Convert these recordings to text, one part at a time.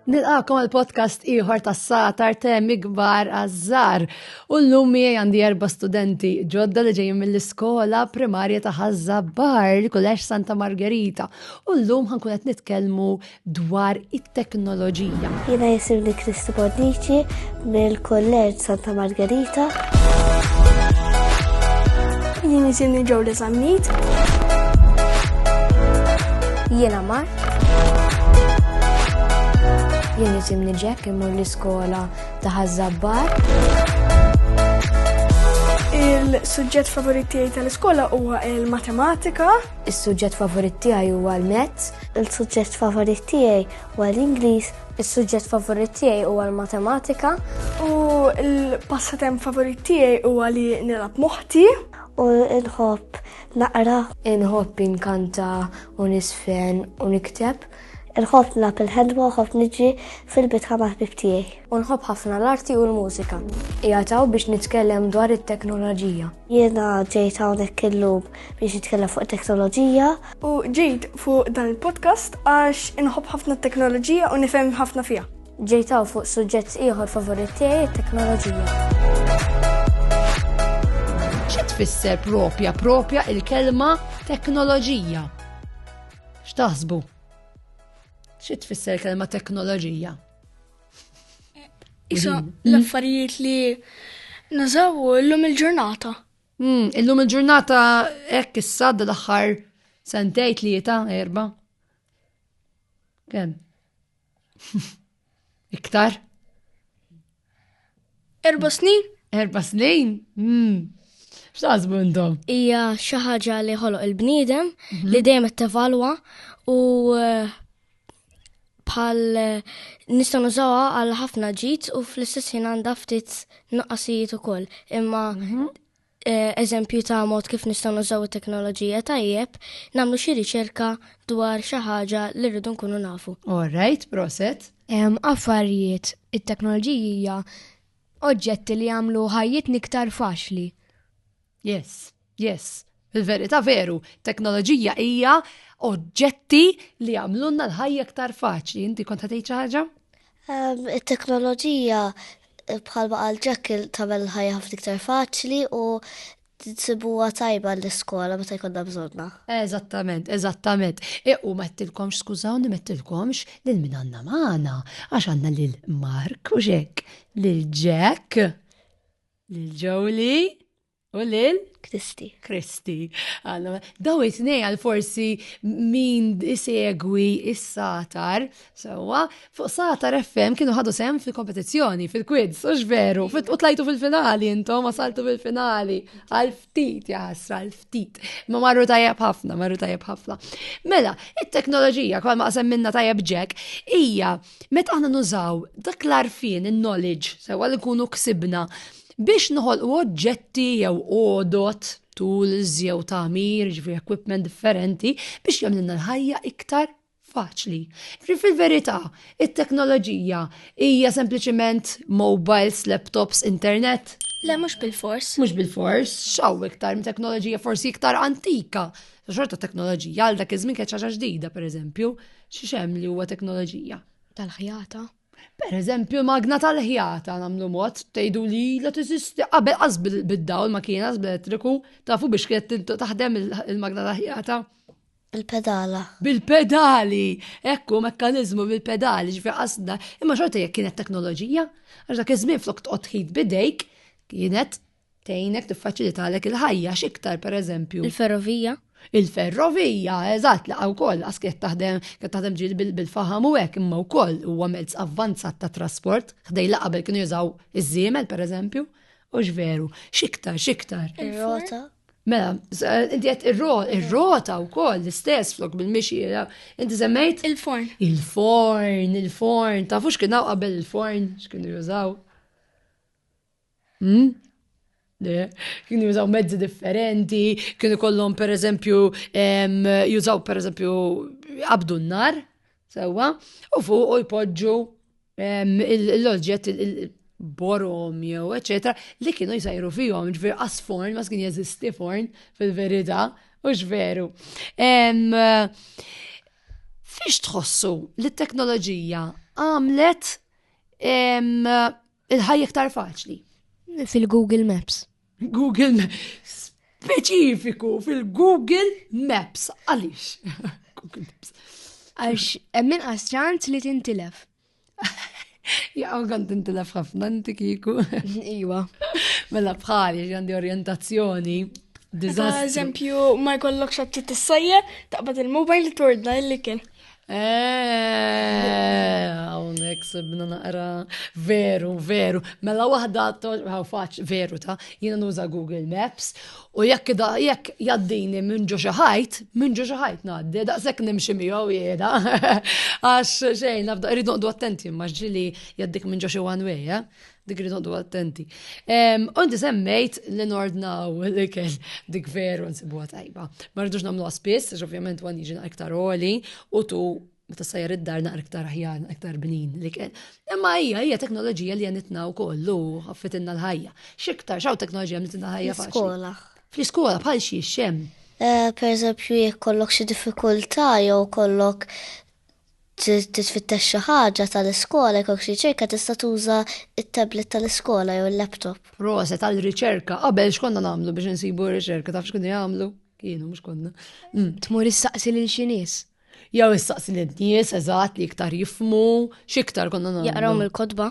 Nilqakom għal podcast ieħor tas satar temi kbar għazzar. U l-lum miegħi għandi erba' studenti ġodda li ġejjin mill-iskola primarja ta' Bar, li kullex Santa Margherita. U l-lum ħankun qed nitkellmu dwar it-teknoloġija. Jiena jisimni Kristi Bonnici mill-Kulleġġ Santa Margarita. Jien jisimni Ġewli Zammit. Jiena Mar. Jien jisimni Jack imur l-iskola ta' Ħażabbar. Il-suġġett favorit tiegħi tal-iskola huwa l-matematika. Is-suġġett favorit tiegħi huwa l-mezz. Il-suġġett favorit tiegħi huwa l-Ingliż. Is-suġġett favorit tiegħi huwa l-matematika. U l-passatemp favorit tiegħi huwa li nilgħab moħħti. U nħobb naqra. Inħobb inkanta u nisfen u nikteb. Inħobb nilgħab il-ħelwa u nħobb niġi fil-bitħa ma' ħbib tiegħi. U nħobb ħafna l-arti u l-mużika. Qiegħed hawn biex nitkellem dwar it-teknoloġija. Jiena ġejt hawnhekk illum biex jitkellem fuq teknoloġija. U ġejt fuq dan il-podcast għax inħobb ħafna t-teknoloġija u nifhem ħafna fiha. Ġejt hawn fuq suġġett ieħor favorit tiegħi t-teknoloġija. Xi tfisser propja propja il-kelma teknoloġija? X'taħsbu? Xi tfisser il-kelma teknoloġija? Isa l-affarijiet li nażawu l-lum il-ġurnata. Mm, illum il-ġurnata hekk issa dal-aħħar sentej tlieta erba. Kemm? Iktar? Erba snin? Erba snin? Mm. X'taħsbu intom? Hija xi ħaġa li ħoloq il-bniedem li mhm. dejjem qed tevalwa u eh, bħal nista' nużawha għal ħafna ġid u fl-istess ħin għandha ftit nuqqasijiet ukoll. Imma mhm. eh, eżempju ta' mod kif nistgħu nużaw it-teknoloġija tajjeb, nagħmlu xi riċerka dwar xi ħaġa li rridu nkunu nafu. All right, proset. Affarijiet, it-teknoloġija oġġetti li jagħmlu ħajjit niktar faċli. Yes, yes. Il-verità veru, teknoloġija hija oġġetti li għamlunna l-ħajja aktar faċli. Inti kont ħatejt xi ħaġa? Ehm, it-teknoloġija eh, bħalma għal ġekk tagħmel ħajja ħafna iktar faċli u tsibuha tajba l-iskola meta jkollna bżonna. Eżattament, eżattament. E, u mettilkomx, skużawni, mettilkomx lil min għandna magħna, għax għandna lil Mark u Jack, lil Jack. Lil Jolie u lil Kristi. Kristi. Daw it-tnej għal forsi min isegwi is-satar, sewa, fuq satar FM kienu ħadu sem fil-kompetizzjoni, fil-quiz, u veru, u tlajtu fil-finali intom, wasaltu fil-finali, għal-ftit, jaħasra, għal-ftit. Ma marru tajjeb ħafna, marru tajjeb ħafna. Mela, it-teknoloġija, kwa ma minna tajjeb ġek, hija meta aħna nużaw dak l-arfien, il-knowledge, sewa li kunu ksibna biex noħolqu oġġetti jew odot, tools jew tamir, ġifri equipment differenti biex jagħmlilna l-ħajja iktar faċli. Ġifri fil-verità, it-teknoloġija hija sempliċement mobiles, laptops, internet. Le mhux bil-fors. Mhux bil-fors, xaw iktar teknoloġija forsi iktar antika Ta' xorta teknoloġija, għal dak iż-żmien kienet ħaġa ġdida, pereżempju, xi xem li huwa teknoloġija. Tal-ħjata. Per eżempju, magna tal-ħjata namlu mod, tgħidu li la tiżisti qabel qas bid-dawl ma kien qas bl-elettriku, tafu biex kienet taħdem il-magna tal-ħjata. Il-pedala. Bil-pedali! Ekku, mekkanizmu bil-pedali, ġifi qasda. Imma xorta jekk kienet teknoloġija, għax dak iż-żmien flok tqgħod ħid bidejk, kienet Tejnek tiffaċilitalek il-ħajja x'iktar pereżempju. Il-ferrovija? Il-ferrovija, eżatt, laqa wkoll għas kiet taħdem kiet taħdem ġil bil-faham u hekk imma wkoll huwa mezz avvanzat ta' trasport, ħdej laqa bil kienu jużaw iż-żiemel pereżempju, u x'veru, x'iktar, x'iktar. Ir-rota? Mela, inti qed ir-rota wkoll l-istess flok bil-mixi, inti semmejt? Il-forn. Il-forn, il-forn, tafux kien hawn qabel il-forn x'kienu jużaw. Kienu jużaw mezzi differenti, kienu kollhom per eżempju, jużaw per eżempju, qabdu n-nar, sewa, u fuq u jpoġġu l-oġġett borom jew, eccetera, li kienu jsajru fihom, ġveri asforn, ma kien jeżisti forn fil-verita, u ġveru. Fiex tħossu li t-teknoloġija għamlet Il-ħajja iktar faċli. Fil-Google Maps. Google Maps. Speċifiku fil-Google Maps. Għalix. Google Maps. Għax, emmin għasċant li tintilef. Ja, għan tintilef ħafna inti kiku. Iwa. Mela bħali, għandi orientazzjoni. Dizastru. Eżempju, ma jkollok xabti t-sajja, taqbad il-mobile tordna il-likin. Għawnek eh, sebna naqra, veru, veru. Mela wahda għaw faċ, veru ta' jina nuża Google Maps u jekk da jekk jaddini minn ġo xaħajt, minn ġo xaħajt naddi, da' sekk nimxi miegħu jeda. Għax xejn, nafda, rridu għaddu attenti, maġġili jaddik minn ġo xi one way, eh? Dik li nodu attenti. Onti semmejt li nordnaw li kell dik veru nsibuha tajba. Ma rridux nagħmlu spiss, għax ovvjament għan jiġi iktar oli u tu meta sajjar id-dar naqra iktar aħjar, iktar bnin li kell. Imma hija hija teknoloġija li għanitna u kollu ħaffitinna l-ħajja. Xiktar xaw teknoloġija għanitna l-ħajja faċli. Skola. Fl-iskola bħal xie xem. Eh, per eżempju, jek kollok xi diffikultà jew kollok titfittex xi ħaġa tal-iskola jkollok xi riċerka tista' tuża t-tablet tal-iskola jew il-laptop. Proset għal riċerka qabel x'konna nagħmlu biex insibu riċerka taf x'kunu jagħmlu? Kienu mhux konna. Mm. Tmur issaqsi lil xi nies. Jew issaqsi lil nies eżatt li iktar jifmu, x'iktar konna nagħmlu. Jaqraw mill-kotba.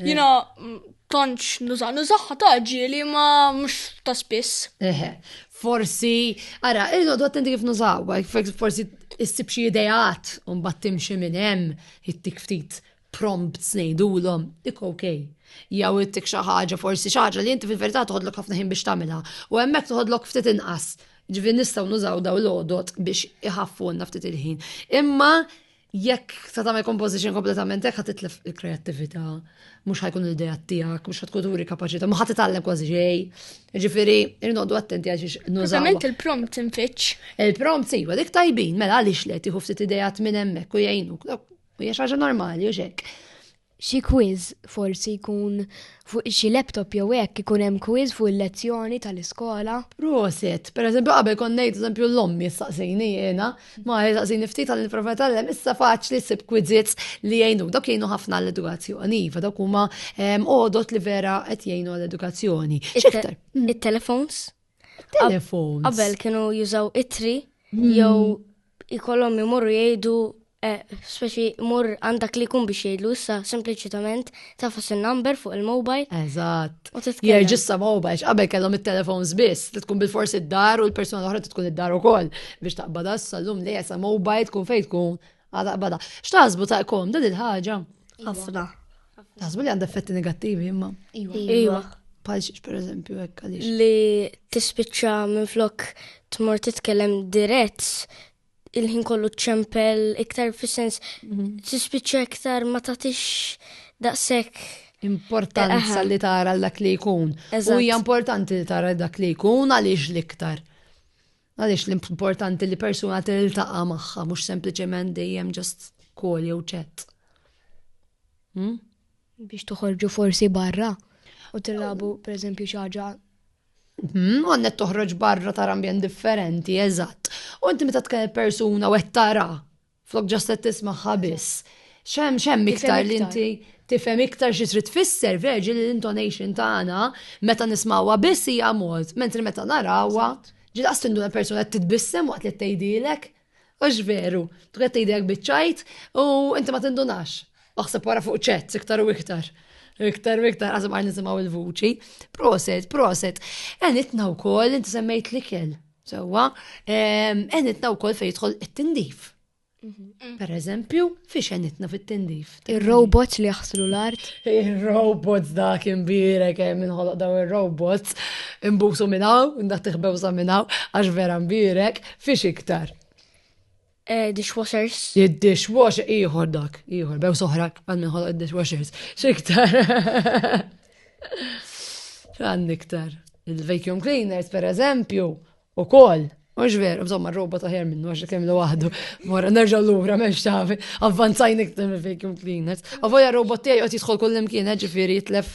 Jina tantx nuża nużaħħa ta' ġieli ma mhux ta' spiss. Eħe, forsi, ara, irridu attenti kif nużawha, forsi issib xi ideat u mbagħad timxi minn hemm ittik ftit prompts ngħidulhom, dik okej. Jew ittik xi ħaġa forsi xi ħaġa li inti fil-verità toħodlok ħafna ħin biex tagħmilha u hemmhekk toħodlok ftit inqas. Ġifieri nistgħu nużaw daw l-għodot biex iħaffunna ftit il-ħin. Imma jekk ta' tagħmel composition kompletament hekk ħad titlef il-kreattività, mhux ħajkun l-idea tiegħek, mhux ħad tkun turi kapaċità, ma ħad titgħallem kważi xej. Jiġifieri irnodu attenti għal xiex nużaw. Eżattament il-prompt infittx. Il-prompt sejwa dik tajbin, mela għaliex le tieħu ftit idejat minn hemmhekk u jgħinuk. U hija xi ħaġa normali u xek. xi quiz forsi jkun fuq xi laptop jew hekk ikun hemm quiz fuq il-lezzjoni tal-iskola. Proset, per eżempju qabel kont ngħid eżempju l-ommi staqsini jiena, ma staqsini ftit għal nipprova tgħallem, issa faċli ssib quizzits li jgħinu, dawk jgħinu ħafna għall-edukazzjoni, iva dawk huma għodod li vera qed jgħinu għall-edukazzjoni. X'iktar? It-telefons? Telefon. Qabel kienu jużaw itri hmm. jew ikollhom imorru jgħidu eh, speċi mur għandak li kun biex jgħidlu issa sempliċitament tafas il-number fuq il-mobile. Eżatt. Jirġissa mobile, qabel kellhom il-telefons biss, li tkun bil-forsi d-dar u l-persona l-oħra tkun id-dar ukoll biex taqbad issa l-lum li jessa mobile tkun fejn tkun Għada bada. X'taħsbu ta' kom dan il-ħaġa? Ħafna. Taħsbu li għandha effetti negattivi imma. Iva. iva. iva. Palxiex per eżempju hekk għaliex. Li tispiċċa minn flok tmur titkellem dirett il-ħin kollu ċempel iktar fis-sens mhm. tispiċċa iktar ma tagħtix daqshekk importanza li tara dak li jkun. U hija importanti li tara dak li jkun għaliex l-iktar. Għaliex l-importanti li persuna tiltaqa' magħha mhux sempliċement dejjem ġast kol jew ċett. Hmm? Biex toħorġu forsi barra u tilabu pereżempju xi ħaġa hmm, għannet toħroġ barra tar ambjent differenti, eżatt. U inti meta tkellem persuna u qed tara Flok ġast qed tismagħha biss. Xem xem iktar li inti tifhem iktar xi trid tfisser verġi li l-intonation tagħna meta nismawha biss hija mod, mentri meta narawha ġilaqs tinduna persuna qed titbissem waqt li tgħidilek. Ux veru, tu qed tgħidilek biċċajt u inti ma tindunax. Aħseb wara fuq ċett iktar u iktar. Iktar u iktar għazem għar nisimgħu il-vuċi. Proset, proset. Enitna wkoll inti semmejt l-ikel. Sewwa, enitna wkoll fejn jidħol it-tindif. Mhm. Per eżempju, fiex enitna fit-tindif. Ir-robots li jaħslu l-art. Ir-robots dak imbirek eh, minn ħoloq daw ir-robots imbusu minnaw, nda tiħbew sa minnaw, għax vera mbirek, fiex iktar. Eh, dishwashers. Id-dishwasher, iħor dak, iħor, bew soħrak għanni ħol id-dishwashers. Xiktar. Għanni iktar. Il-vacuum cleaners, per eżempju, u kol. Mux veru, bżomma robot aħjar minnu għax kemm waħdu. Mora nerġa' lura m'hemmx tafi, avvanzajn iktar mill-vacuum cleaners. Avoja robot tiegħi qed jidħol kull imkien, eh, ġifieri jitlef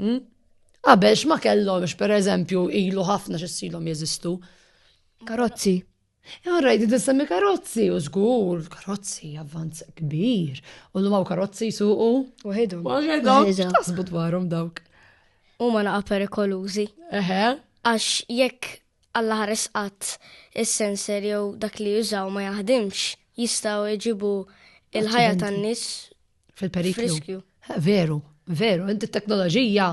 Hmm? Qabel x'ma kellhomx pereżempju ilu ħafna x'issilhom jeżistu. Karozzi. Għarrajt, e, semmi karozzi, u zgur, karozzi, avvanz kbir. U l-maw karozzi suqu. U ħidhom. U ħidhom. Tasbu dwarhom dawk. U ma naqa perikolużi. Eħe. Għax jekk Alla ħares qatt is-sensor jew dak li jużaw ma jaħdimx, jistgħu jġibu il-ħajja tan-nies Fil-periklu. Veru, veru, inti t-teknoloġija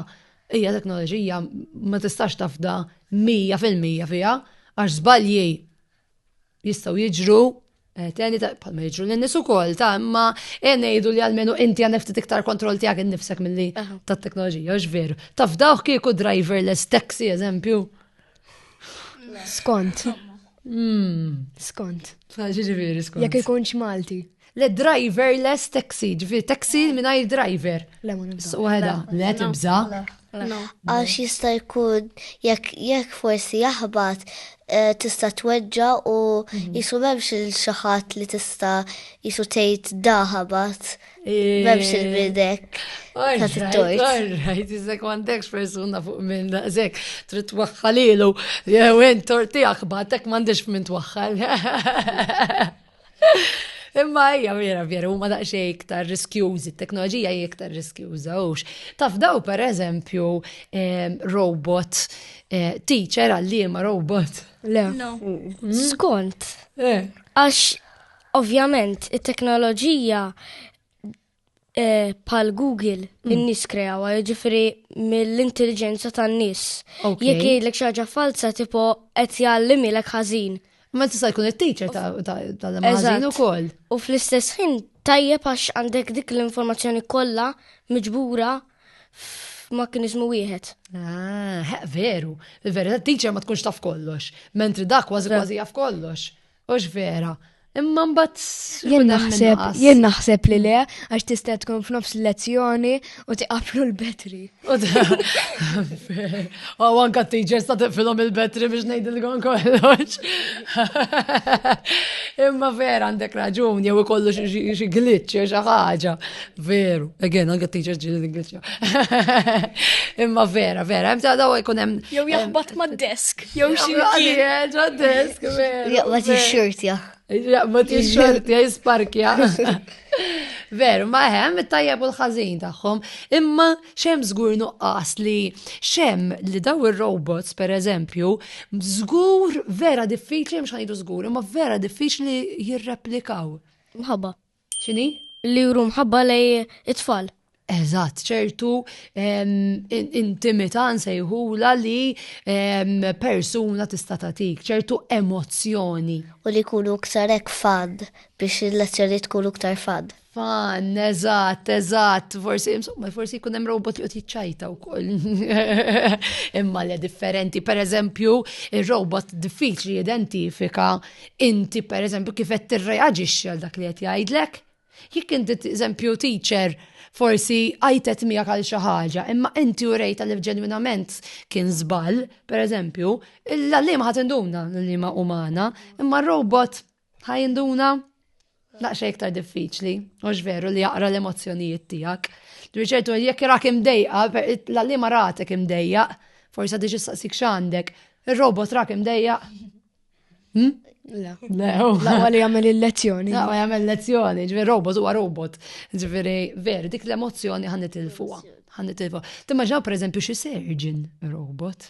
hija teknoloġija ma tistax tafda 100% fiha għax żbalji jistgħu jiġru eh, Teni ta' palma jiġru l-nis u kol ta' imma eh, nejdu li għalmenu inti għan ftit iktar kontrol tijak nifsek mill-li ta' teknoloġija, ġveru. Taf dawk kieku driverless taxi, eżempju, Skont. Hmm. Skont. Ġiġifieri skont. Jekk ikunx Malti. Le driverless taxi, ġifieri taxi ah. mingħajr driver. Le ma nibża. Waħda, le tibża. Għax jista' jkun jekk forsi jaħbat eh, tista' tweġġa u mhm. jisu memx il-xaħat li tista' jisu tgħid daħabat. Memx il-bidek. Għarrajt, għarrajt, iżek mandekx persuna fuq minn daqsek, trid twaħħalilu, jew int tortijak batek mandekx minn twaħħal. Imma hija vera vera huma daqsxejn iktar riskjużi, t-teknoloġija hija iktar riskjuża hux. Taf daw pereżempju ehm, robot eh, teacher għalliema robot. Le. Mm. Skont. Eh. Għax Ovvjament, it-teknoloġija eh, pal Google mm. in-nies kreawa, jiġifieri mill-intelligenza tan-nies. Jekk jgħidlek xi ħaġa falza tipo qed jgħallimilek ħażin. Ma tista' jkun it-teacher tal-ħażin ukoll. U fl-istess ħin tajjeb għax għandek dik l-informazzjoni kollha miġbura f'mekkanizmu wieħed. Ah, veru. Il-verità teacher ma tkunx taf kollox, mentri dak kważi kważi jaf kollox. Ux vera, Imma mbagħad jien naħseb jien naħseb li le għax tista' tkun f'nofs lezzjoni u tiqaflu l-betri. U anka t-teachers ta' tiqfilhom il-betri biex ngħidilkom kollox. Imma vera għandek raġun jew ikollu xi glitch jew xi ħaġa. Veru, again anka t-teachers ġieli glitch. Imma vera, vera, hemm daw jkun hemm. Jew jaħbat mad-desk, jew xi ħadd mad-desk. Jaqbad ix-xortja. Jaqbad ix-xortja jisparkja. Veru, ma hemm it-tajjeb u l-ħażin tagħhom, imma xem żgur nuqqas li xem li daw ir-robots pereżempju, żgur vera diffiċli mhux ħajdu żgur, imma vera diffiċli jirreplikaw. Mħabba. X'inhi? Li juru mħabba lej it-tfal. Eżatt, ċertu intimità nsejħula li persuna tista' tagħtik, ċertu emozzjoni. U li jkunu iktar hekk fan biex il-lezzjoni tkun iktar fan. Fan, eżatt, eżatt, forsi, insomma, forsi jkun hemm robot li qed jiċċajta wkoll. Imma le differenti, pereżempju, ir-robot diffiċli identifika inti per eżempju kif qed tirreaġixxi għal dak li qed jgħidlek. Jekk inti eżempju teacher forsi għajtet miegħek għal xi ħaġa, imma inti u rejta li ġenwinament kien żball, per eżempju, l-għalliema ħad induna l-għalliema umana, imma r-robot ħajinduna Laqxa iktar diffiċli, mhux veru li jaqra l-emozzjonijiet tiegħek. Riċertu jekk irak imdejqa, l-għalli ma ratek imdejja, forsa diġi saqsik x'għandek, ir-robot rak imdejja. Hmm? Le, laqwa li jagħmel il-lezzjoni. Laqwa jagħmel lezzjoni, ġifieri robot huwa robot. Ġifieri veru dik l-emozzjoni ħan nitilfuha. Ħan nitilfuha. Timmaġinaw pereżempju xi surgeon robot.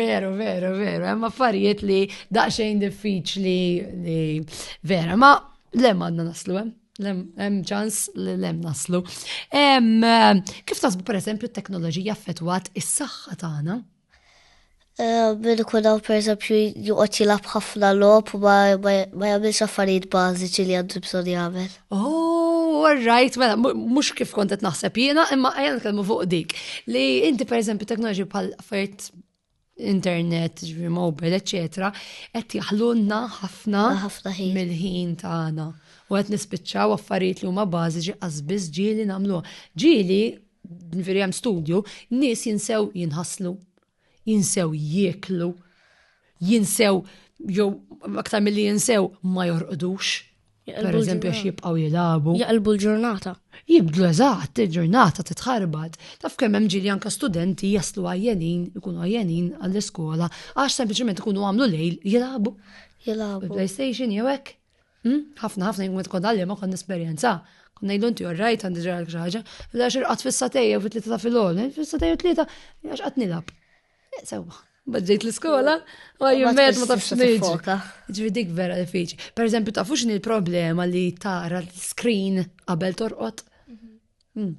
Veru, veru, veru, hemm affarijiet li daqsxejn diffiċli li vera, ma lem għandna naslu hemm. Hemm ċans li lem naslu. Kif tasbu pereżempju t-teknoloġija affettwat is-saħħa tagħna? Eh, min ikun hawn pereżempju joqgħod jilgħab ħafna logħob u ma jagħmilx affarijiet bażiċi li għandu bżonn jagħmel. Oh, right, mela, mux kif kontet naħseb jiena, imma għajan kelmu fuq dik. Li inti, per eżempju, teknoloġi bħal affarijiet internet, ġvi mobile, etc. Qed jaħlunna ħafna ħafna ħin mill-ħin tagħna. U qed nispiċċaw affarijiet li huma bażiċi qasbiż ġieli nagħmluha. Ġieli, veri hemm studju, nies jinsew jinħaslu. jinsew jieklu, jinsew jew aktar milli jinsew ma jorqdux. Per eżempju, għax jibqaw jilabu. Jaqlbu l-ġurnata. Jibdlu eżatt, il-ġurnata titħarbat. Taf kemm hemm ġili anka studenti jaslu għajjenin, ikunu għajjenin għall-iskola, għax sempliċement ikunu għamlu lejl jilabu. Jilabu. PlayStation jew hekk. Hmm? Ħafna ħafna jgħum tkun dalli ma kon esperjenza. Kon ngħidu inti orrajt għandi ġara xi ħaġa, la xi rqat fis-satejja fit tlieta ta' filgħol, eh, fis-satejja tlieta għax qatt nilgħab. Eh, sewwa, bħadġejt l-iskola, ma jimmet ma tafx niġi. Ġifieri dik vera diffiċi. Per eżempju, tafu x'inhi l-problema li tara l-screen qabel torqod? Mhm. Hmm.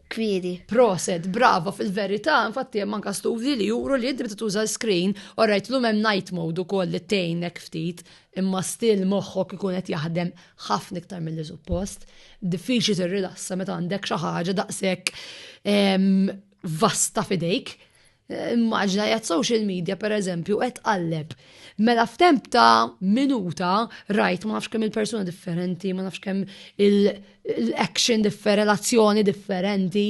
kbiri. Proset, brava fil-verità, infatti hemm anka studji li juru li inti meta tuża l-screen, orajt l hemm night mode ukoll li tgħinek ftit, imma stil moħħok ikun qed jaħdem ħafna iktar mill suppost. Diffiċli tirrilassa meta għandek xi ħaġa daqshekk ehm, vasta fidejk. Immaġna jgħat social media per eżempju qed qalleb. Mela f'temp ta' minuta rajt ma nafx kemm il-persuna differenti, ma nafx kemm l-action differenti, l-azzjoni differenti.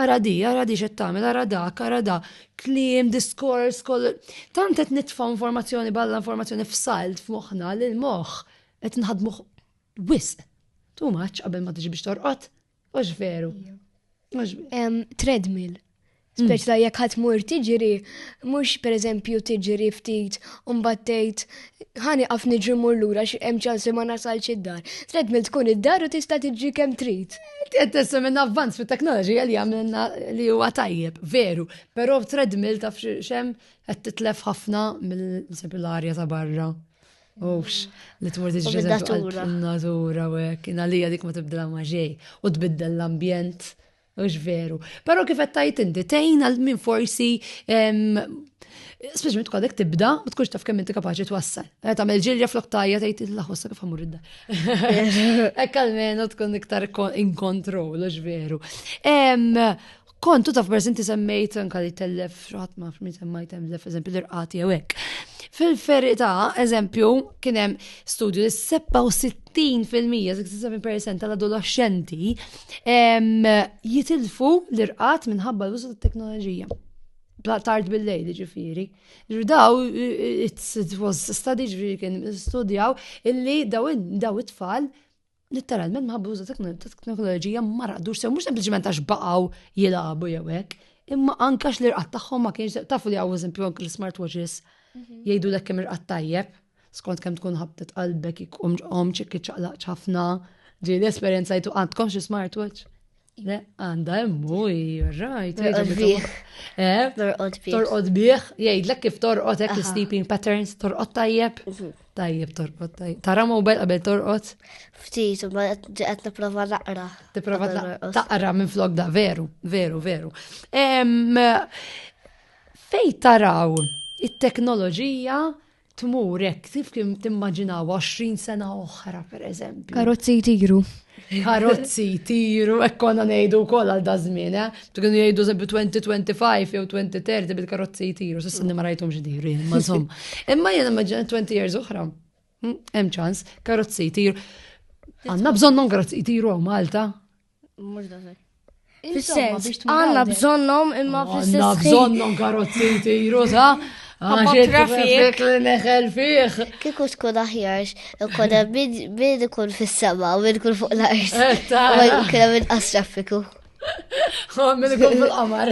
Ara di, ara di xed tagħmel, ara dak, ara da, kliem, diskors, kol. Tant qed nitfa' informazzjoni balla informazzjoni f'salt f'moħħna li l-moħħ qed nħadmuh wisq. Tu maċ qabel ma tiġi biex torqod. Mhux veru. Treadmill. Mm. Speċla jekk ħadd mur tiġri, mhux pereżempju tiġri ftit u mbagħad tgħid ħani qaf niġri mur lura xi hemm ċans li ma nasalx id-dar. Treadmill tkun id-dar u tista' tiġri kemm trid. Qed tessa minn avvanz fit-teknoloġija li għamilna li huwa tajjeb, veru, però treadmill taf x'hemm qed titlef ħafna mill-arja ta' barra. Ux, li tmur tiġġeża natura u hekk, inalija dik ma tibdilha ma' ġej u tbiddel l-ambjent. Ux veru. Pero kif qed tajt inti tejn għal min forsi speċjalment kwadek tibda u tkunx taf kemm inti kapaċi twassal. Eh, tagħmel ġilja flok tajja tgħid il-laħossa kif ħamur id Hekk almenu tkun iktar in control, ux veru. kontu taf per inti semmejt anka li tellef xaħat ma fmi semmaj tellef eżempju l-irqati għek. Fil-ferita, eżempju, kienem studju li 67% 67% tal-adolescenti jitilfu l-irqat minħabba l-użu tat-teknoloġija. Tard bil-lejl ġifiri. Daw, it was study ġifiri kien studjaw illi daw it-tfal Litteralment ma ħabbuża teknoloġija ma raqdux sew, mhux sempliċement għax baqgħu jilagħbu jew hekk, imma anke għax l-irqad tagħhom ma kienx tafu li hawn eżempju anke l-smart watches mhm. jgħidu lek kemm irqad tajjeb, skont kemm tkun ħabtet qalbek ikum ġqom ċikki ċaqlaq ċafna, ġi l-esperjenza jtu għandkom xi smart watch. Għanda emmu, rajt. Eh? Torqod bieħ, jgħidlek kif torqod hekk sleeping patterns, torqod tajjeb. Mhm. Tajjeb torqod tajjeb. Tara mobile qabel torqod? Ftit, ma qed nipprova naqra. Tipprova taqra minn flok da, veru, veru, veru. Fej taraw it-teknoloġija tmur hekk kif kien timmaġinaw 20 sena oħra pereżempju. Karozzi jtiru. Karozzi jtiru, hekk konna ngħidu wkoll għal dażmin, eh? Kienu jgħidu żebbi 2025 jew 2030 bil-karozzi jtiru, s'issa ma rajthom x'diru, ma żomm. Imma jien immaġina 20 years oħra. Hm, hemm ċans, karozzi jtiru. Għandna bżonnhom karozzi jtiru Malta. Mhux daqshekk. Fis-sens, għanna bżonnom imma fis-sens. Għanna bżonnom karozzi tiru ta' għaxek li neħel fiħ. Kiku tkun aħjarx, konna min ikun fis-sema u min ikun fuq l-art. Eh, u kena minn asrafiku. Min ikun fil-qamar.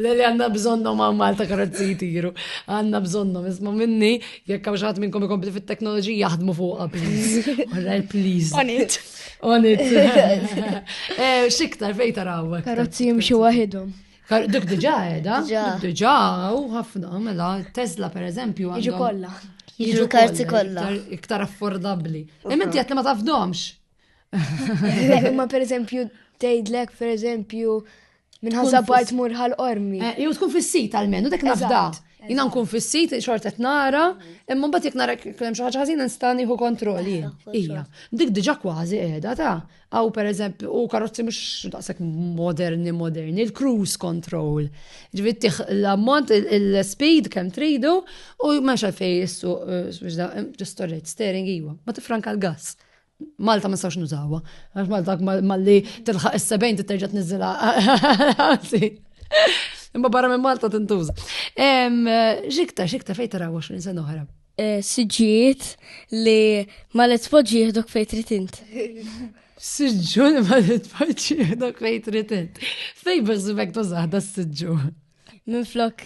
Lili għanna bżonnom għam Malta karozzi tiru. Għanna bżonnom, isma minni, jekk għaxħat minnkom ikompli fit-teknoloġija jaħdmu fuqa, please. Alright, please. On it. Eh, xiktar fejn taraw. Karozzi jimxu waħidhom. Dik diġa edha, diġa u ħafna, mela, Tesla per eżempju. Jiġu kolla. Jiġu karti kolla. Iktar affordabli. Imminti għat li ma tafdomx. Ma per eżempju, tejdlek per eżempju, Minn ħaża bar tmur ħal qormi. Eh, jew tkun fis-sit għalmenu dak nafda. Jina nkun fis-sit xorta qed nara, imma mbagħad jekk nara kemm xi ħaġa ħażina nista' nieħu kontroll jien. Ija. Dik diġà kważi qiegħda ta' għaw pereżempju u karozzi mhux daqshekk moderni moderni, il-cruise control. Ġifieri l-ammont il-speed kemm tridu u ma xalfej jissu eh, ġistoret steering iwa, ma tifranka l-gass. Malta ma sax nużawa. Għax Malta malli tilħaq is-sebejn titterġa tniżżilha. Imma barra minn Malta tintuża. Xikta, xikta fejn tara 20 sena oħra. E, siġġiet li ma li tpoġġi jihdok fejn trid int. Siġġu li ma li tpoġġi jihdok fejn trid int. Fejn biżżibek tużaħda s-siġġu. Minn flok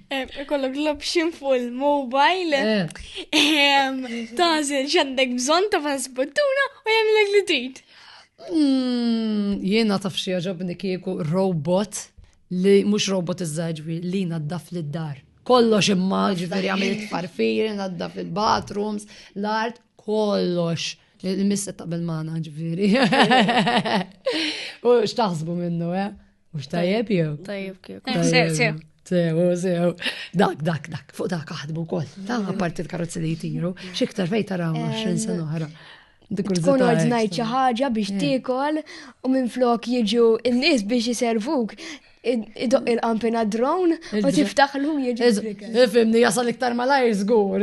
Eh, ikollok l-option full mobile, eh. tażel xandek bżon ta' fasbuttuna u jemlek li trid. Hmm, jiena taf xi ġobni kieku robot li mhux robot iż-żaġwi li naddaf lid-dar. Kollox imma ġifieri għamil farfiri, naddaf il-bathrooms, l-art, kollox. Il-missa ta' bil-mana ġifieri. U x'taħsbu minnu, eh? Mux tajjeb jew? Tajjeb kif. Sew, sew, sew. Dak, dak, dak, fuq dak aħdmu kol. Ta' parti l-karozzi li jitiru, xiktar fej taraw 20 sena oħra. Tkun ordnajt xi ħaġa biex tiekol u minn flok jiġu n-nies biex jiservuk idoq il-qampina drone u tiftaħ l-lum jieġi. Fimni, jasal iktar malajr zgur,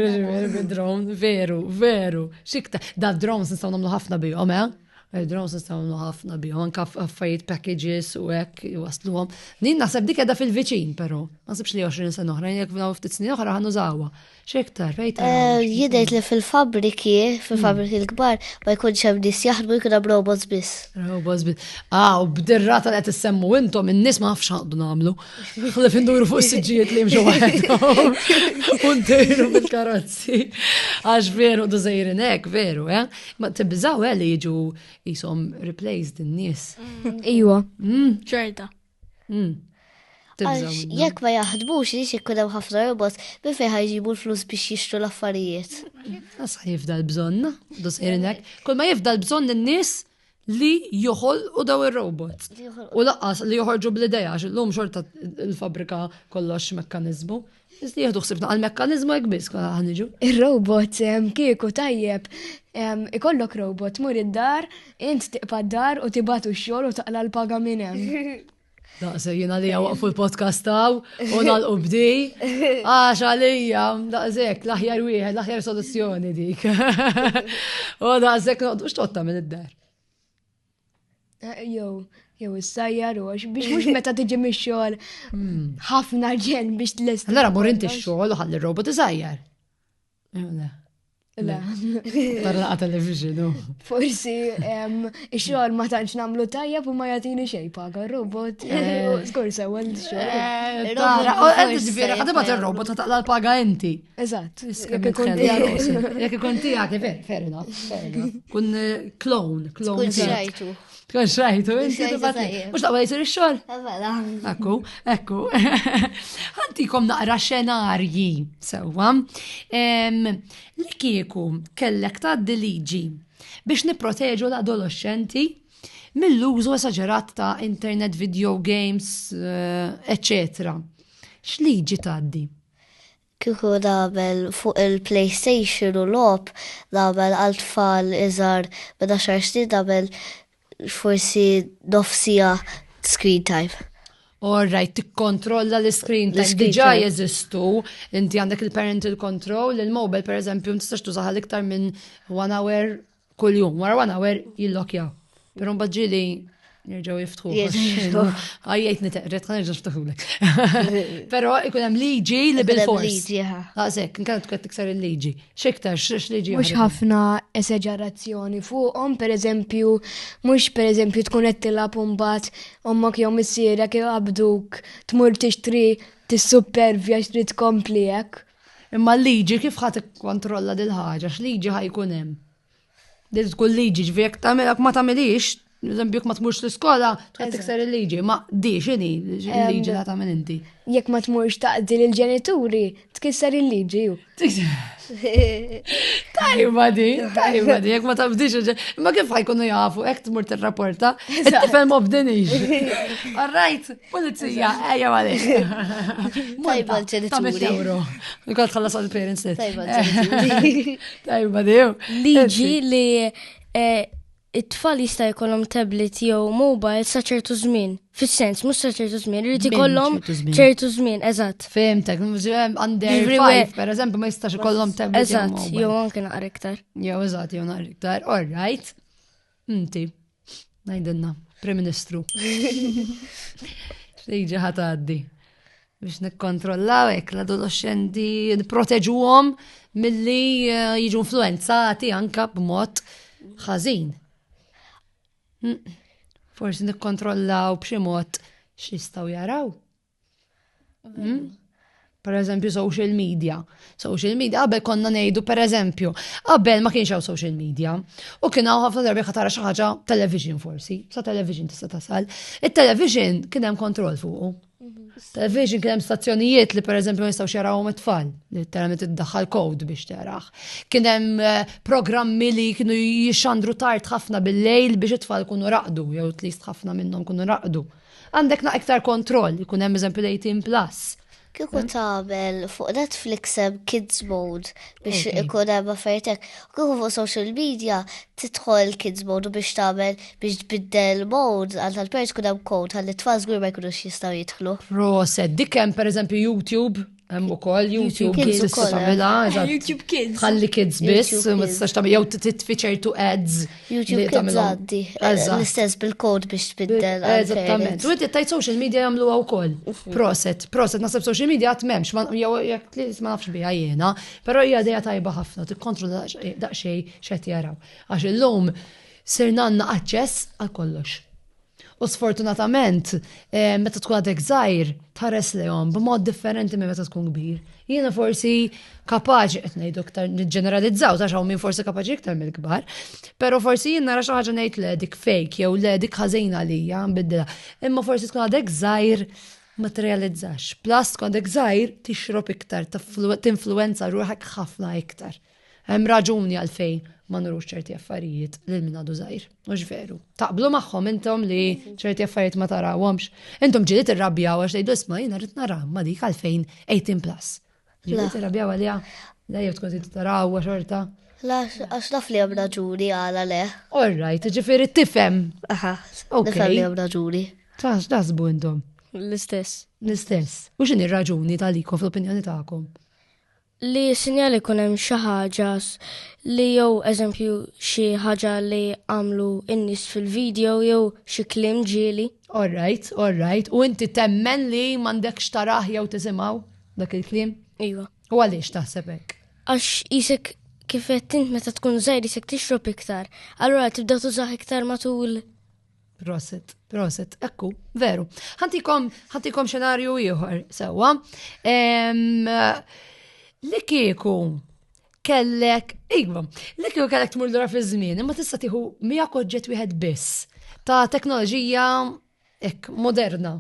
bil-drone, veru, veru, xikta. Da drone nistaw namlu ħafna bihom, eh? Drones nistgħu ħafna bihom, anke affarijiet packages u hekk wasluhom. Din naħseb dik qiegħda fil-viċin però. Ma sibx li 20 sena oħra, jekk f'daw ftit snin oħra ħan użawha. X'iktar fejta. Eh, jidgħid li fil-fabriki, fil-fabriki hmm. l-kbar, ma jkunx hemm nies jaħdmu jkun hemm robots biss. Robots biss. Ah, u b'dirra tal qed issemmu intom in-nies ma nafx għandu nagħmlu. Ħalli finduru fuq is-siġġijiet li jimxu waħedhom. Untejru bil-karozzi. Għax veru du hekk, veru, eh? Ma tibżaw eh, li jiġu jisom replaced in-nies. Mm. Iwa. Mm. Ċerta. Mm. Għax jekk ma jaħdmux li xikkun hemm ħafna robot bi fejn ħajġibu l-flus biex jixtru l-affarijiet. Asa jifda l-bżonna, du sejrinek. Kull ma jifda l-bżonn n-nies li joħolqu daw ir-robots. U laqqas li joħorġu bl-idea għax illum xorta l-fabrika kollox mekkaniżmu. Iż li jieħdu ħsibna għal mekkaniżmu hekk biss kollha ħaniġu. Ir-robot kieku tajjeb ikollok robot mur id-dar, int tiqpa d-dar u tibatu x-xogħol u taqla l-paga minn hemm. Daqse jina li waqfu l-podcast taw, u nalqu bdi, għax għalija, daqsek, laħjar wieħed, laħjar soluzzjoni dik. U daqsek, noqdux totta minn id-dar. Eh, jow, jow, s-sajjar u għax biex mux meta tiġi mi xol hmm. ħafna ġen biex t-lest. Allora, mur inti xol u ħalli robot t-sajjar. Le. Le. Tarla għata li fiġinu. Forsi, xogħol ma tantx namlu tajja u ma jatini xej paga robot. Skur se għal xogħol. Eh, tara, għed ġviri, għadda bat il-robot ta' taqla l-paga inti. Eżat. Jek ikun tijak, jek ikun tijak, fair enough. Kun eh, clone, clone. Tkun xrajtu, inti tibati. Mux taqwa jisir il-xol? Mela. Ekku, ekku. Għanti kom naqra xenarji, sewa. Li kieku kellek ta' liġi biex niproteġu l-adolescenti mill-użu esagerat ta' internet, video games, etc. Eh, X'liġi taddi? Kieku nagħmel fuq il-PlayStation u logħob nagħmel għal tfal iżgħar minn għaxar snin nagħmel forsi nofs siegħa screen time. All right, tikkontrolla l-screen time. Diġà jeżistu, inti għandek il-parental control, il-mobile pereżempju tistax tużaha l-iktar minn one hour Kull jum, wara one hour jillokjaw. Pero mbagħad ġieli nerġgħu jiftħu. Għajjajt niteqret, ħan nerġa' niftaħulek. Però ikun hemm liġi li bil-fors. Għazek, nkant tkun tikser il-liġi. X'iktar x'liġi. Mhux ħafna eseġerazzjoni fuqhom, pereżempju, mhux pereżempju tkun qed tilgħab imbagħad ommok jew missierek iqabduk tmur tixtri tissupervja xtrid tkompli hekk. Imma l-liġi kif ħa tikkontrolla dil ħaġa x'liġi ħa jkun hemm? Din tkun liġi ġifieri jekk tagħmilha ma tagħmilix, eżempju jekk ma tmurx l-iskola tkun tikser il-liġi, ma di x'inhi l-liġi li tagħmel inti. Jekk ma tmurx taqdi lill-ġenituri tkisser il-liġi. Tajba di, tajba di, jekk ma tafdix ma kif ħajkunu jafu, jekk tmur tirrapporta, it-tifel ma fdinix. All right. Polizija, ejja għalix. Tajba l-ġenituri. Nikol tħallas għal parents li. Tajba l-ġenituri. Tajba diw. Liġi li eh, it-tfal jista' jkollhom tablet jew mobile sa ċertu żmien. Fis-sens, mhux sa ċertu żmien, irid ikollhom ċertu żmien, eżatt. Fehmtek, għandek five, per eżempju, ma jistax ikollhom tablet. Eżatt, jew anke naqra iktar. Jew eżatt, jew naqra iktar, all right. Inti, ngħidilna, Prim Ministru. Xejġi ħataddi biex nikkontrollaw hekk l-adolescenti nipproteġuhom milli eh, jiġu influenzati anka b'mod ħażin. Mm. Forsi nikkontrollaw b'xi mod x'jistgħu jaraw. Hmm? Per eżempju, social media. Social media, qabel konna nejdu, per eżempju, qabel ma kienx hawn social media, u kien hawn ħafna darbi ħatara xi ħaġa television forsi, sa television tista' tasal. Il-television kien hemm kontroll fuqu. Mhm. Television kien hemm stazzjonijiet li per eżempju nistgħu xarawhom it-tfal, li terament iddaħħal kod biex teraħ. Kien hemm eh, programmi li kienu jixxandru tard ħafna bil-lejl biex it-tfal kunu raqdu, jew tlist ħafna minnhom kunu raqdu. Għandek na iktar kontroll, jkun hemm eżempju l-18 plus. Kieku eh? tagħmel fuq Netflix hemm Kids Mode biex ikun hemm affertek. Kieku fuq social media tidħol Kids Mode biex tagħmel biex tbiddel mode għal tal-pers kun hemm kod għal it-tfal żgur ma jkunux jistgħu jidħlu. Proset, dik hemm pereżempju YouTube Hemm ukoll YouTube Kids tista' tagħmilha, eh, YouTube Kids. Ħalli Kids biss, ma tistax tagħmel jew titfi ċertu ads. YouTube Kids għaddi. Eh, l-istess bil-kod biex tbiddel. Eh, eżattament. U inti tajt social media jagħmluha wkoll. Mhm. Proset, proset naħseb social media qatt m'hemmx, jew jekk li ma nafx biha jiena, però hija dejja tajba ħafna tikkontru daqsxejn x'qed jaraw. Għax illum sirna għandna aċċess għal kollox. U sfortunatament, eh, meta tkun għadek żgħir, tħares lehom b'mod differenti minn meta tkun kbir. Jiena forsi kapaċi qed ngħidu iktar niġġeneralizzaw ta' xaw minn forsi kapaċi iktar mill-kbar, però forsi jien nara xi ħaġa ngħid le dik fake jew le dik ħażin għalija nbiddilha. Imma forsi tkun għadek żgħir ma tirrealizzax. Plus tkun għadek żgħir tixrob iktar, tinfluwenza ruħek ħafna iktar. Hemm raġuni għalfejn ma nurux ċerti affarijiet lil min għadu żgħir, mhux veru. Taqblu magħhom intom li ċerti affarijiet ma tarawhomx. Intom ġili tirrabjaw għax tgħidu isma' jiena rrid nara ma dik għalfejn 18 plus. Ġili tirrabjaw għaliha? La jew tkun trid taraw xorta. La għax naf li hemm raġuni għala le. All right, ġifieri tifhem. Aha, nifhem li hemm raġuni. Tax dażbu intom. L-istess. L-istess. U x'inhi raġuni tal-ikom fl-opinjoni tagħkom? Li sinjal ikun hemm xi ħaġa li jew eżempju xi ħaġa li għamlu n-nies fil-video jew xi kliem ġieli. All right, all right. U inti temmen li m'għandekx tarah jew tisimgħu dak il-kliem? Iva. U għaliex taħseb hekk? Għax isek kif qed int meta tkun żgħir isek tixrob iktar, allura tibda tużah iktar matul Proset, proset, ekku, veru. Ħantikom, ħantikom xenarju ieħor, sewa. Li kieku kellek, iva, li kieku kellek tmur dura fi żmien, imma tista' tieħu miegħek oġġett wieħed biss ta' teknoloġija ek moderna.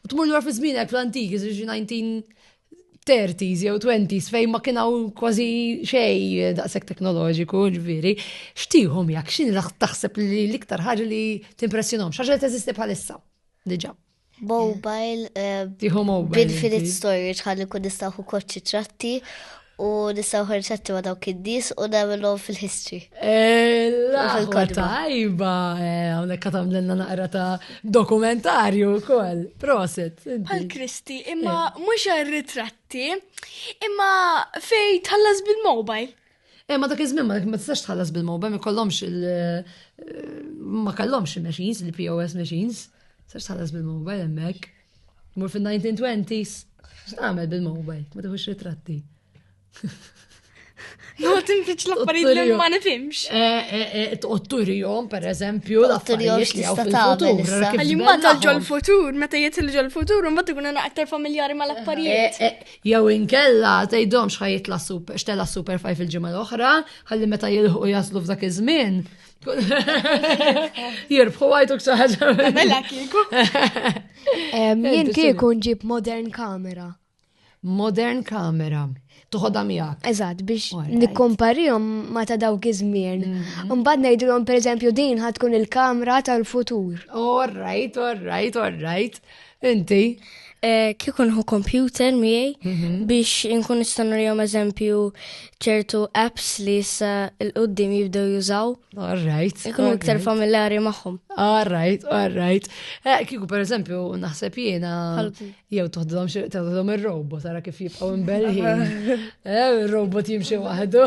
U tmur dura fi żmienek fl-antiki, 19 30s jew 20s fejn ma kien hawn kważi xejn daqshekk teknoloġiku, ġifieri, xtihom jak, x'in taħseb li l-iktar ħaġa li timpressjonhom, x'ħaġa li teżisti bħalissa. Diġà. Mobile, eh, Tiħu mobile. Infinite storage ħalli kun nistaħu koċċi tratti u nistaw ħarċatti ma dawk id-dis u namilom fil-history. Eh, Tajba, eh, għonek katam l-naqra ta' Dokumentarju wkoll, proset. Bħal Kristi, imma eh. mhux għar-ritratti, imma fej tħallas bil-mobile. Eh, ma dak iż-żmien ma tistax tħallas bil-mobile, ma kollhomx il eh, ma kellhomx il-machines, il-POS machines. Sax tħallas bil-mobile hemmhekk. Mur fin-1920s, x'tagħmel bil-mobile, ma tħux ritratti. No, tinfiċ l-affarijiet li ma nifimx. Tqotturi jom, per eżempju, l-affarijiet li għaw fil-futur. Għalli ma tal-ġol futur, meta jitil ġol futur, un bat ikun għana aktar familjari ma l-affarijiet. Eh, eh, jew inkella, tajdom xħajiet la super, xtella super faj fil-ġimma l-oħra, għalli meta jilħu jaslu f'dak iż-żmien. Jirbħu għajtu ksaħġa. Mela kieku. Jien kieku nġib modern kamera. modern kamera toħodha miegħek. Eżatt, biex nikkomparihom ma ta' dawk iż-żmien. Mhm. Mbagħad ngħidulhom pereżempju din ħad tkun il-kamra tal-futur. All right, all right, all right. Inti? Eh, kikun hu computer miegħi mhm. biex inkun nista' nurihom eżempju ċertu apps li issa l-qudiem jibdew jużaw. All right. Ikun iktar familjari magħhom. All right, all right. Eh, kieku pereżempju naħseb jiena Jew toħdhom xi toħdhom ir-robot ara kif jibqgħu imbellħin. Eh, ir-robot jimxi waħdu.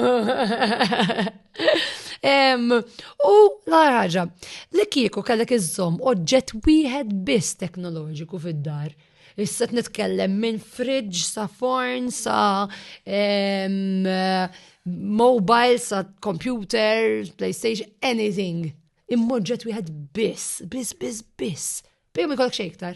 U l-ħaġa, li kieku kellek iżżomm oġġett wieħed biss teknoloġiku fid-dar. Issa nitkellem minn fridge sa forn sa mobile sa computer, PlayStation, anything. Immoġġet wieħed biss, biss, biss, biss. Bejhom ikollok xejn iktar.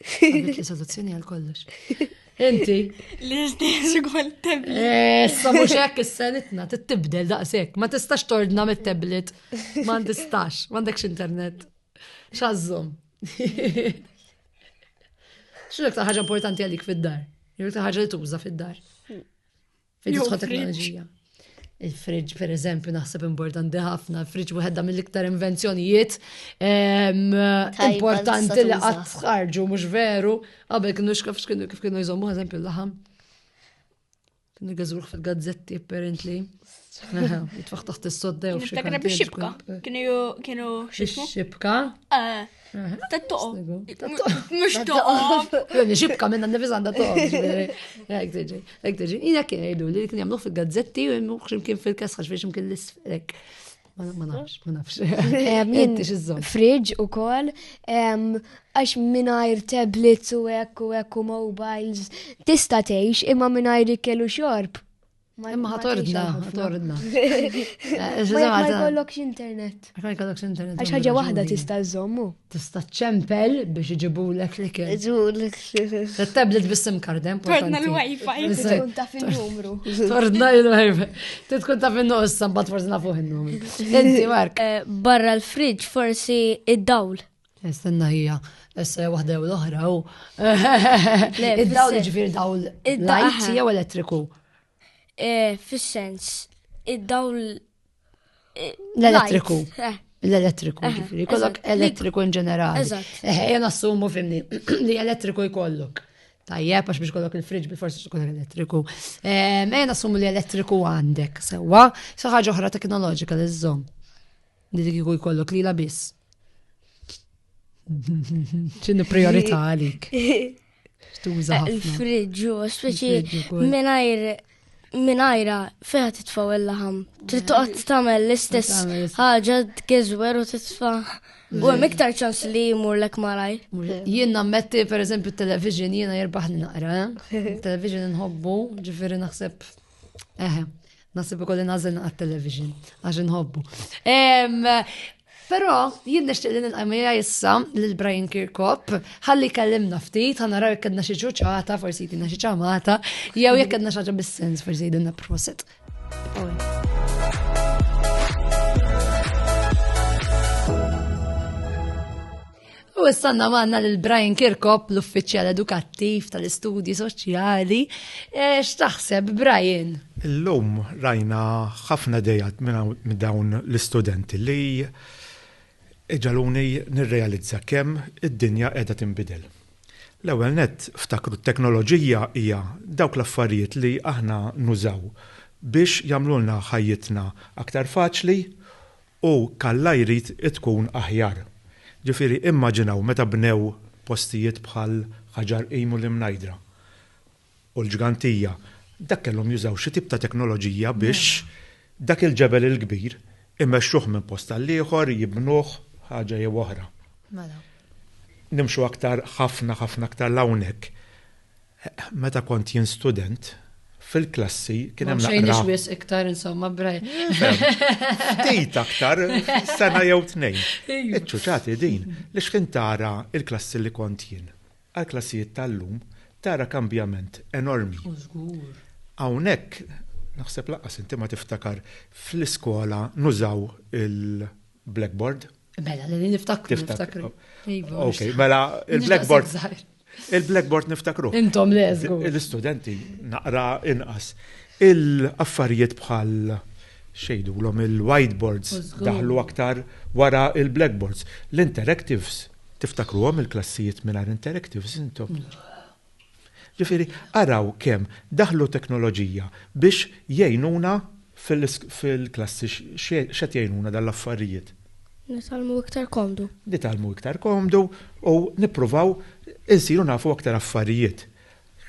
Għandek soluzzjoni għal kollox. Inti. L-istess għol tablet. Eh, sa mux hekk is-senitna, tibdel daqshekk, ma tistax tordna mit-tablet, ma tistax, ma għandekx internet. Xazzum. X'inhu ta' ħaġa importanti għalik fid-dar? Jek ta' ħaġa li tuża fid-dar. Fid-disħot teknoloġija. Il-fridġ, per eżempju, naħseb importanti ħafna. Il-fridġ wieħedha mill-iktar invenzjonijiet ehm, importanti li qatt tħarġu, mhux veru. Qabel kienu xkaf x'kienu kif kienu jżommu eżempju l-laħam. Kienu għażruħ fil-gazzetti apparently. Jitfaħ taħt is-soddew. Kienu biex xibka. Kienu xibka. Ah. Mux toqob. Joni xibka minna nifis għanda toqob. Ek tiġi, ek tiġi. Ina kien jgħidu li kien jamluħ fil-gazzetti u jemluħ ximkien fil-kaskax biex ximkien l-isfrek. Ma nafx, ma nafx. Fridge u kol, għax minajr tablets u ekku ekku mobiles, tista teħx imma minajr ikkelu xorb. Imma ħatordna, ħatordna. Eh, ma jkollokx internet. Ma jkollokx internet. Għax ħaġa waħda tista' żommu. Tista' ċempel biex iġibu l-ek li kien. Iġu tablet bis-sim kardem. Tordna l-wifi. Tkun taf il-numru. Tordna l-wifi. Tkun taf il-numru, s-sambat forsi nafuħ il-numru. Inti, Mark. Eh, barra l-fridġ forsi id-dawl. Nistenna hija, essa waħda jew l-oħra, u. Id-dawl ġifir dawl. Id-dawl jew elettriku. Eh, fis-sens, id-dawl. Eh, l-elettriku. Eh. L-elettriku, eh, ġifiri, kollok elettriku in ġenerali. Ejja nassumu fimni li elettriku jkollok. Tajjeb, għax biex kollok il-friġ bi forsi tkun elettriku. Ejja nassumu li elettriku għandek, sewa, saħħa ġoħra teknoloġika li żżomm. Li dik kieku jkollok lila biss. ċinu priorita għalik. Tuża ħafna. Il-friġġu, speċi minajr minajra feħa titfaw il-laħam. Trid toqgħod tagħmel l-istess ħaġa tgeżwer u titfa' U hemm iktar ċans li jmur lek malaj. Jien nammetti pereżempju t-television jiena jirbaħni naqra. Eh? Television nħobbu, ġifieri naħseb Eħe, nasib ikolli nażel naqgħat television għax inħobbu. Però jien nixtieq li nilqamija issa lil Brian Kirkop ħalli kellimna ftit ħa naraw jekk kellna xi ċuċata, forsi jtina xi ċamata, jew jekk kellna xaġa bis-sens forsi jidinna proset. U s-sanna manna l-Brian Kirkop, l-uffiċjal edukattiv tal-istudji soċjali. E, x'taħseb, Brian? Illum rajna ħafna dejat minn dawn l-istudenti li iġaluni nirrealizza kemm id-dinja qiegħda tinbidel. L-ewwel net ftakru t-teknoloġija hija dawk l-affarijiet li aħna nużaw biex jagħmlulna ħajjitna aktar faċli U kalla jrid tkun aħjar. Ġifieri immaġinaw meta bnew postijiet bħal Ħaġar Qim u l-Imnajdra u l-Ġgantija, dak kellhom jużaw xi tip ta' teknoloġija biex dak il-ġebel il-kbir imexxuh minn post għall-ieħor, jibnuh, ħaġa jew oħra. Nimxu aktar ħafna ħafna aktar 'l hawnhekk. Meta kont jien student, fil-klassi kien hemm naqra. Xejn wisq iktar insomma braj. Ftit aktar sena jew tnejn. Iċċuċati din li x'kien tara il-klassi li kont jien. Għall-klassijiet tal-lum tara kambjament enormi. U żgur. Hawnhekk naħseb lanqas inti ma tiftakar fl-iskola nużaw il-blackboard. Mela, li niftakru niftakru. Iva. Mela, il-blackboard. Il-blackboard niftakru. Intom le, żgur. L-istudenti naqra inqas. Il-affarijiet bħal xejdu l-om il-whiteboards daħlu aktar wara il-blackboards. L-interactives, tiftakru għom il-klassijiet minn interactives intom. Ġifiri, araw kem daħlu teknoloġija biex jgħinuna Fil-klassi x'qed jgħinuna dan l-affarijiet? Nitgħallmu iktar komdu. Nitgħallmu iktar komdu u nippruvaw insiru nafu aktar affarijiet.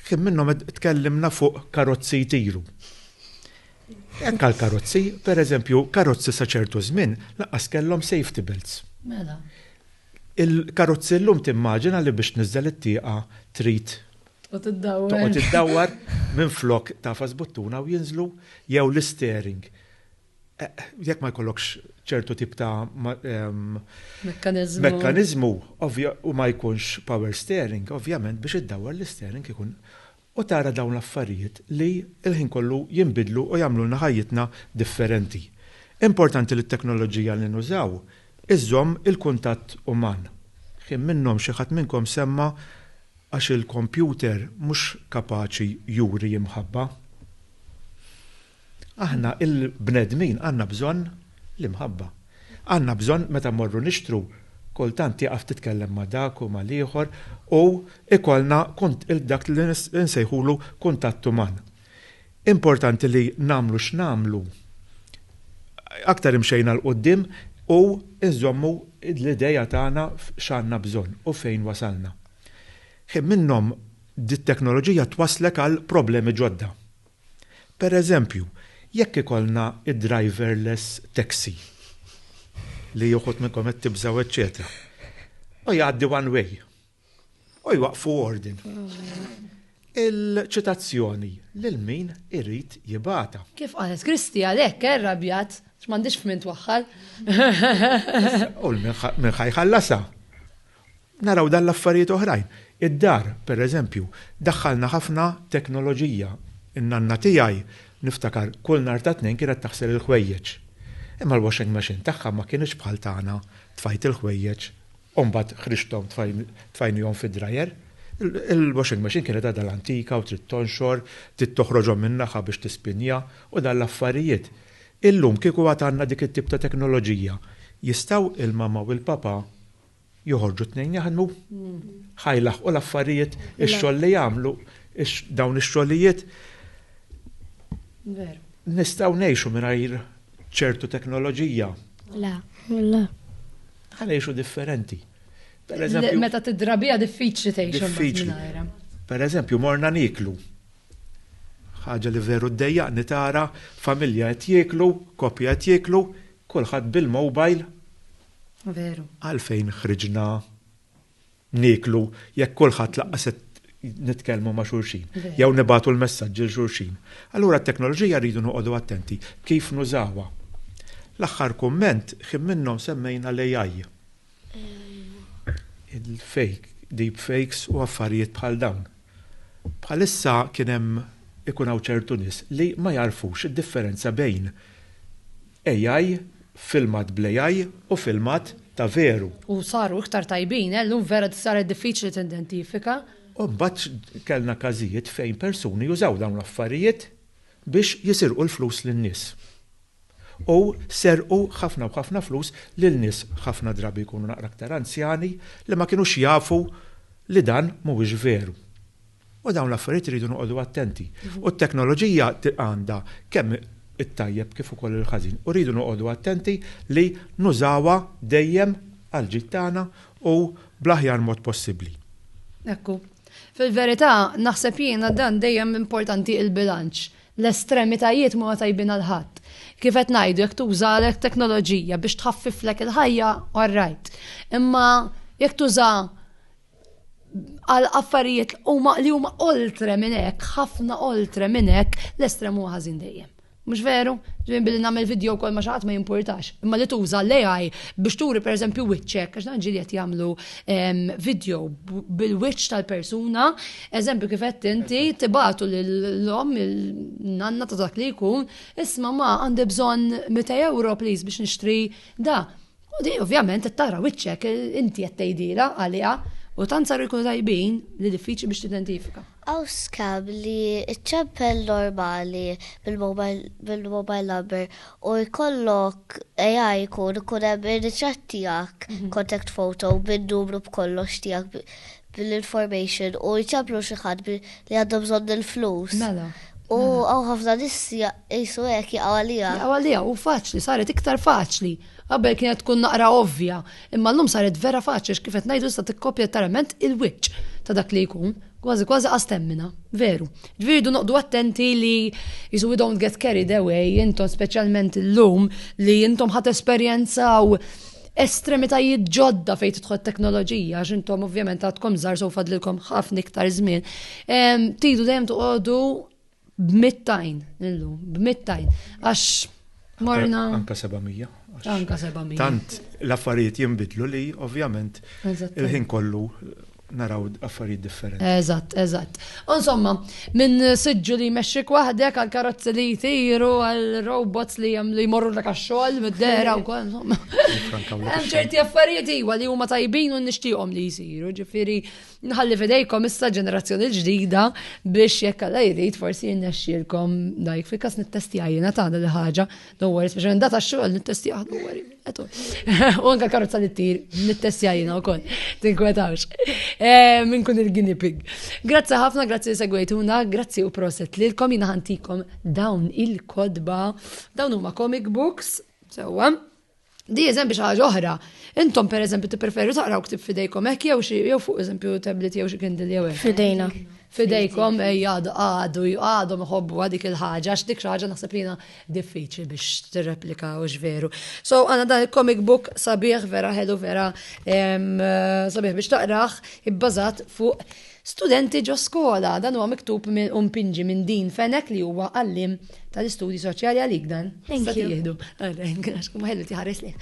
Kien minnhom tkellimna fuq karozzi jtiru. Hekk għal karozzi, pereżempju, karozzi sa ċertu żmien lanqas kellhom safety belts. Mela. Il-karozzi llum timmaġina li biex tniżżel it-tieqa trid Toqgħod iddawwar. Toqgħod iddawwar minn flok tafas buttuna u jinżlu jew l-istering. Eh, jekk ma jkollokx ċertu tip ta' ehm, mekkanizmu u ma jkunx power steering, ovvjament biex iddawwar l-istering ikun u tara dawn l-affarijiet li l-ħin kollu jinbidlu u jagħmlulna ħajjitna differenti. Importanti li t-teknoloġija li nużaw iżżomm il-kuntatt uman. Kien minnhom xi ħadd minnkom semma Għax il-kompjuter mhux kapaċi juri imħabba. Aħna l-bnedmin għandna bżonn l-imħabba. Għandna bżonn meta mmorru nixtru, kultant tieqaf titkellem ma' dak u mal-ieħor u jkollna dak li nsejħulu kuntatt uman. Importanti li nagħmlu x'nagħmlu, aktar imxejna 'l quddiem u nżommu l-idea tagħna f'x'għandna bżonn u fejn wasalna. Ħin minnhom dit-teknoloġija twasslek għal problemi ġodda. Per eżempju, jekk ikollna d-driverless taxi, li uħud minnkom qed tibżgħu eċċetera, hu jgħaddi one way. U jwaqfu ordin. Il-ċitazzjoni lil min irid jibata. Kif qalet Kristi għalhekk eh, rabjat x'mandix f'min twaħħal. U minn ħajħallasa. Naraw dan l-affarijiet oħrajn. Id-dar, per eżempju, daħħalna ħafna teknoloġija. In-nanna tiegħi niftakar kull nar ta' tnejn kienet taħsel il-ħwejjeġ. Imma l-washing machine tagħha ma kienx bħal tagħna tfajt il-ħwejjeġ u mbagħad ħriġthom tfajnihom fid-dryer, il-washing machine kienet għadha l-antika u trid tonxor, trid toħroġhom min-naħa biex tispinja u dan l-affarijiet. Illum kieku għad għandna dik it-tip ta' teknoloġija, jistgħu il-mamma u l-papa joħorġu t-tnejn jaħdmu? Ħa jlaħħqu l-affarijiet, ix-xogħol li jagħmlu, dawn ix-xogħlijiet? Veru. Nistgħu ngħixu mingħajr ċertu teknoloġija? Le. Le. Ħa ngħixu differenti. Meta tidrabija diffiċli tgħix diffiċli. Per eżempju, morna niklu. Ħaġa li veru ddejjaqni tara familja qed jieklu, koppja qed jieklu, kulħadd bil-mobile. Veru. Għalfejn ħriġna nieklu jekk kulħadd laqqas qed nitkellmu ma' xulxin, jew nibatu l-messaġġi l xulxin. Allura t-teknoloġija rridu noqogħdu attenti kif nużawha. L-aħħar kumment, ħin minnhom semmejna l-AI. Il-fake, deepfakes u affarijiet bħal dawn. Bħalissa kien hemm ikun hawn ċertu nies li ma jagħrfux id-differenza bejn AI, filmat bl-AI u filmat ta' veru. U saru iktar tajbin, eh, llum vera saret diffiċli tidentifika. U mbagħad kellna każijiet fejn persuni jużaw dawn l-affarijiet biex jisirqu l-flus lin-nies. U serqu ħafna u ħafna flus lil nies ħafna drabi jkunu naqra aktar anzjani li ma kinux jafu li dan mhuwiex veru. U dawn l-affarijiet iridu noqogħdu attenti. U t-teknoloġija għandha kemm it-tajjeb kif ukoll il-ħażin. U rridu noqogħdu attenti li nużawha dejjem għall-ġid tagħna u bl-aħjar mod possibbli. Ekku. Fil-verità, naħseb jiena dan dejjem importanti il-bilanċ. L-estremitajiet mhuma tajbin għal ħadd. Kif qed ngħidu, jekk tuża teknoloġija biex tħaffiflek il-ħajja, all right. Imma jekk tuża għal affarijiet huma li huma oltre minn hekk, ħafna oltre minn hekk, l-estrem huwa ħażin dejjem. Mhux veru? Ġin billi nagħmel video wkoll ma xaħat ma jimpurtax. Imma li tuża l-AI biex turi pereżempju wiċċek, għax dan ġieli qed jagħmlu ehm, video bil-wiċċ tal-persuna, eżempju kif qed inti tibatu l-om il-nanna ta' dak li jkun, isma' ma għandi bżonn 200 euro please biex nixtri da. U di ovvjament qed tara wiċċek inti qed tgħidilha għaliha u tant saru jkunu tajbin li diffiċli biex tidentifika. Hawn scam li ċċempel normali bil-mobile number u jkollok AI jkun ikun hemm ir-ritratt tiegħek, mhm. contact photo, bin numru b'kollox tiegħek din l-information u jċemplu xi ħadd li għandhom bżonn il-flus. Mela. U hawn ħafna nies qisu hekk jaqgħu għaliha. Jaqgħu għaliha u faċli saret iktar faċli. Qabel kienet tkun naqra ovvja, imma llum saret vera faċli x'kif qed ngħidu issa tikkopja tarament il-wiċċ ta' dak li jkun kważi kważi għastemmina, veru. Ġviridu noqdu attenti li jisu we don't get carried away, intom specialment l-lum li intom ħat esperienza u estremitajiet ġodda fejn tidħol teknoloġija, għax intom ovvjament għadkom żgħar sew fadlilkom ħafna iktar żmien. Tidu dejjem toqogħdu b'mittajn illum, b'mittajn. Għax morna. Anka 700. Anka 700. Tant l-affarijiet jinbidlu li ovvjament il-ħin kollu naraw affarijiet differenti. Eżatt, eżatt. U insomma, minn siġġu li jmexxik waħdek għal karozzi li jtiru għal robots li hemm li jmorru l xogħol mid-dera wkoll insomma. Hemm ċerti affarijiet iwa li huma tajbin u nixtieqhom li jsiru, ġifieri nħalli fidejkom issa ġenerazzjoni ġdida biex jekk alla jrid forsi jinnexxielkom dajk fil-każ nittestjajjina tagħna li ħaġa No worries, biex għandata xogħol nittestja ħadu għari. U anka karozza li t-tir, nittestja jina u koll, tinkwetawx. Eh, Minn kun il-guinea pig. Grazzi ħafna, grazzi segwejtuna, grazzi u proset li l-kom jina ħantikom dawn il-kodba, dawn huma comic books, sewa. Di eżempju xi ħaġa oħra. Intom per eżempju tippreferu taqraw ktib fidejkom hekk jew xi jew fuq eżempju tablet jew xi kindle jew hekk. Fidejna. Fidejkom jgħadu eh, għadu għadhom iħobbu għadik il-ħaġa għax dik xi ħaġa naħseb li jiena diffiċli biex tirreplika u veru. So għandna dan il-comic book sabiħ vera ħelu vera sabiħ biex taqraħ ibbażat fuq Studenti ġo skola, dan huwa miktub u mpinġi minn Dean Fenech li huwa għalliem tal-istudji soċjali għalik dan. Thank you. Jihdu. Għax kum ħellu tiħares li.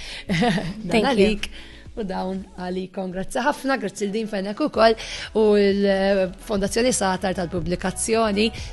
Dan għalik. U dawn għali kongrazzi ħafna, grazzi l-din fennek u koll u l-Fondazzjoni Satar tal-Publikazzjoni